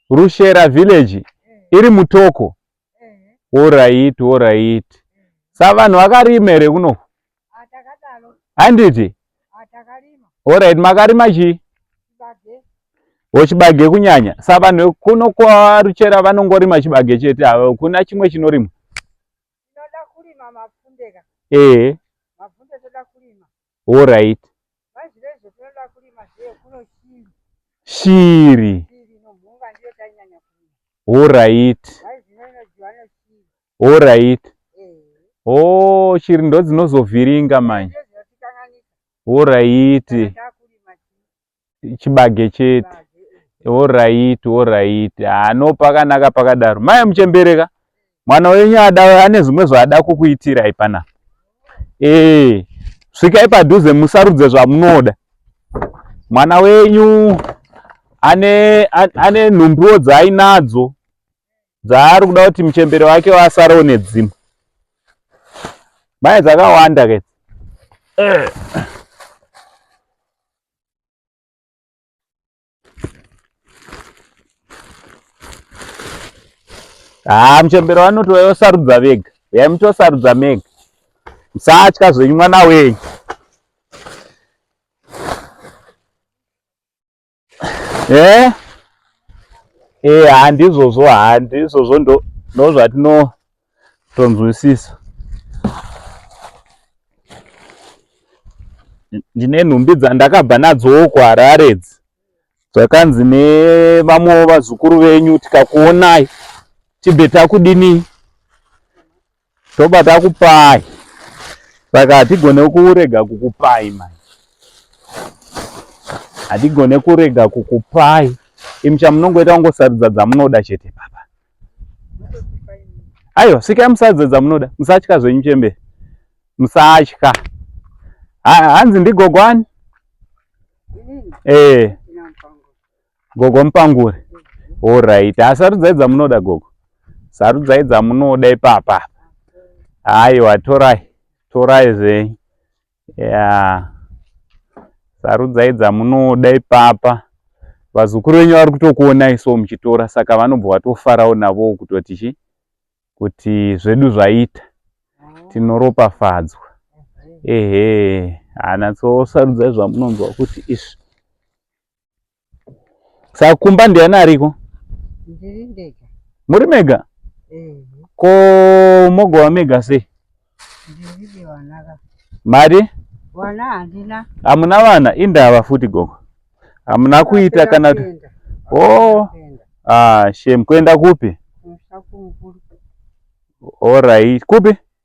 Rushera village iri mutoko. Alright, alright. Sa vanhu vakarima here kuno? Handiti? Alright, makarima chii? Ochibage kunyanya. Sa vanhu kuno kwa Ruchera vanongorima chibage chete ava kuna chimwe chinorimwa. Tinoda kurima mapfunde ka. Eh. Mapfunde toda kurima. All right. Shiri. All right. All right. Oh, shiri ndodzinovhiringa manje. All right. chibage chete orit orit ah, no pakanaka pakadaro mai muchembereka mwana wenyu ada ane zvimwe zvaada kukuitirai panapa ee svikai padhuze musarudze zvamunoda mwana wenyu ane ane nhumbiwo dzaainadzo dzaari kuda kuti muchembere wake wasarewo nedzimwe mai dzakawanda ke eh. haa ah, muchembero vanoti vayosarudza vega yai mutosarudza mega musatya zvenyu mwana wenyu e e handizvozvo handizvozvo ndozvatino tonzwisisa ndine nhumbi dzandakabva nadzowo kuharare idzi zvakanzi nevamwewo vazukuru venyu tikakuonai tibve takudini tobva takupai saka hatigone kurega kukupai manje hatigone kurega kukupai imi chamunongoita kungosarudza dzamunoda chete baba aiwa sikai musadze dzamunoda musatya zvenyu chembere musatya hanzi ndigogo ani ee eh. gogo mupangure orit ha sarudzai dzamunoda gogo sarudzai dzamunoda ipapa aiwa torai torai zvenyu Yeah. Sarudzai dzamunoda ipapa. Vazukuru venyu vari kutokuonai so muchitora saka vanobva vatofarawo navo kutoti chi kuti zvedu zvaita tinoropafadzwa. Ehe, hana so sarudzai zvamunonzwa kuti izvi. Saka kumba ndiani ariko? Ndiri ndega. Muri mega? Eh. Ko mogova mega sei? Ndiri wanaka. Mari? Wana handina. Hamuna vana? Indava futi gogo. Hamuna kuita kana kuti Oh. Ah, shame. Kuenda kupi? All right. Kupi?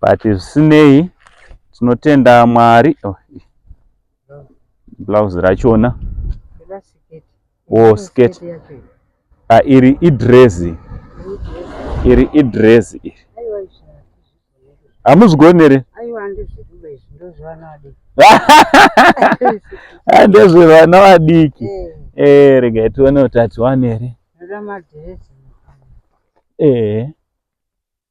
but zvisinei tinotenda mwari oh, blouse rachona o oh, skirt ah, iri idrezi iri idrezi iri hamuzvigonere ndezvevana vadiki eh. eh, regai tione kuti atiwane here ehe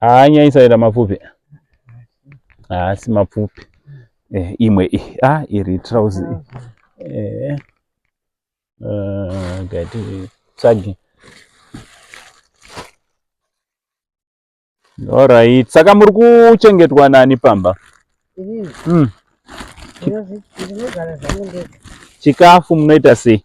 haanyanyisa ira mapfupi haasi ah, mapfupi eh, imwe i a ah, iri trousi eh, uh, gati tsagi orit saka muri kuchengetwa nani pamba hmm. chikafu munoita sei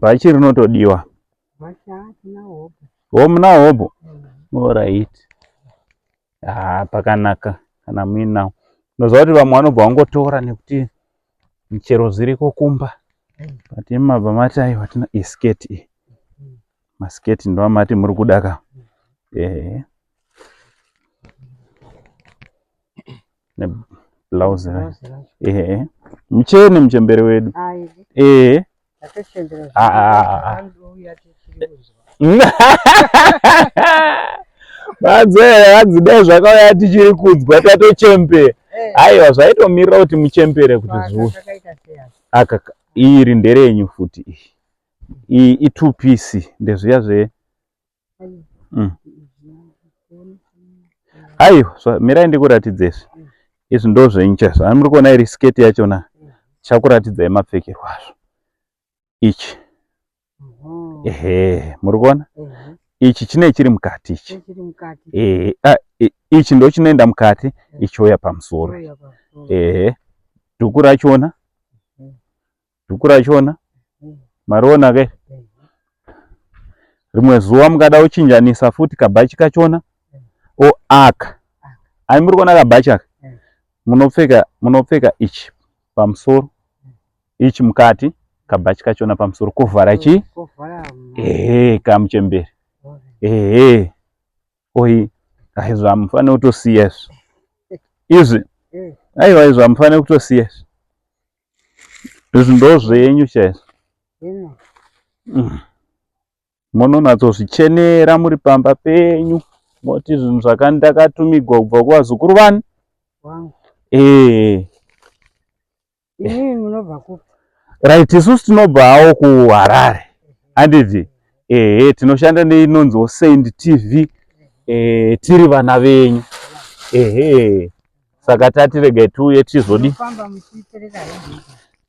bhachi rinotodiwa home now hobo mm. orit haa ah, pakanaka kana muinawo unoziva kuti vamwe vanobva vangotora nekuti michero zviriko kumba mm. but imabva mati ayi vatina isketi iyi mm. masketi ndovamati muri kudaka ehe blouse Blouse racho. ehe muchene muchembere wedu Ayi, ehe ndakachembera Ah, ah, ah, ah. zvakanaka, anouya tichiri kuzwa. madzee hanzi dai zvakauya tichiri kudzwa tatochembera Eh, aiwa zvaitomirira kuti muchembere kuti basa zuva zvakaita sei asi? aka iri nderenyu futi iyi iyi i two piece ndezviya zve aiwa mm. mirai ndikuratidzezve izvi ndo zvenyu chaizvo ani muri kuona iri sketi yachona chakuratidzai mapfekerwo azvo ichi ehe muri kuona ichi chine chiri mukati ichi ehe ah, ichi ndo chinoenda mukati ichiuya pamusoro ehe dhuku rachona dhuku rachona mariona ke rimwe zuva mukada kuchinjanisa futi kabhachi kachona o aka ai muri kuona kabhachi aka munopfeka munopfeka ichi pamusoro ichi mukati kabhachi kachona pamusoro kuvhara chii ehe kamuchemberi ehe oi ai zvamufanira kutosiya izvi izvi aiwa izvi zvamufanira kutosiya izvi Izvi ndozvenyu chaizvo. Mm. Munonatsozvichenera muri pamba penyu moti zvinhu zvakandakatumigwa kubva kuvazukuru vani? Eh. Imi munobva kupi? Right, isusu tinobva hawo kuHarare. Handiti? Ehe, tinoshanda neinonziwo Saint TV. Eh, tiri vana venyu. Ehe. saka tati regai tiuye tizodi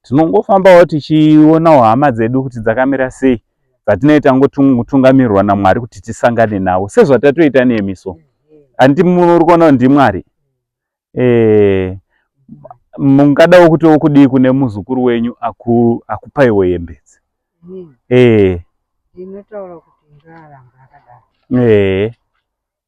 tinongofambawo tichionawo hama dzedu kuti dzakamira sei dzatinei tangotungamirwa namwari kuti tisangane navo sezvatatoita nemi so handiti muri kuona ndimwari eh, mungadawo kuti wokudii kune muzukuru wenyu akupaiwo yembedzi ee eh.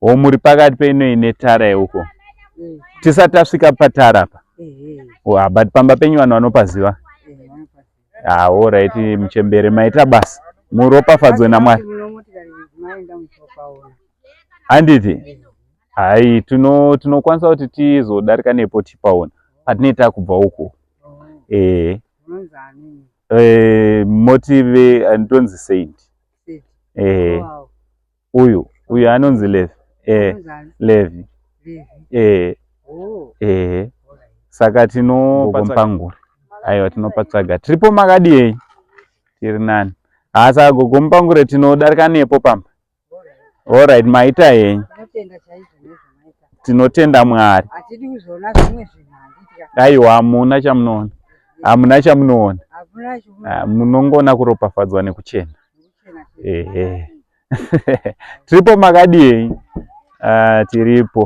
o muri pakati peinoi netara yeuko eh. tisati tasvika patara apa ah, but pamba penyu vanhu vanopaziva ah, orit muchembere maita basa muropafadzwe namwari handiti hai tinokwanisa kuti tizodarika nepo tipaona patinei takubva uko oh. ee eh. Eh, motive antonzi eh, saint eh, uyu uyu anonzi levi eh, levi eh, oh. eh, saka tinogogompanguri aiwa tinopatsvaga tiripo makadiyei tiri nani haa saka gogompangure tinodarika nepo pamba Alright, maita henyu. Tinotenda Mwari. Hatidi kuzoona zvimwe zvinhu handitya. Aiwa hamuna chamunoona. Hamuna chamunoona. Ah, munongoona kuropafadzwa nekuchena. Ehe. Tiripo makadii? Ah, tiripo.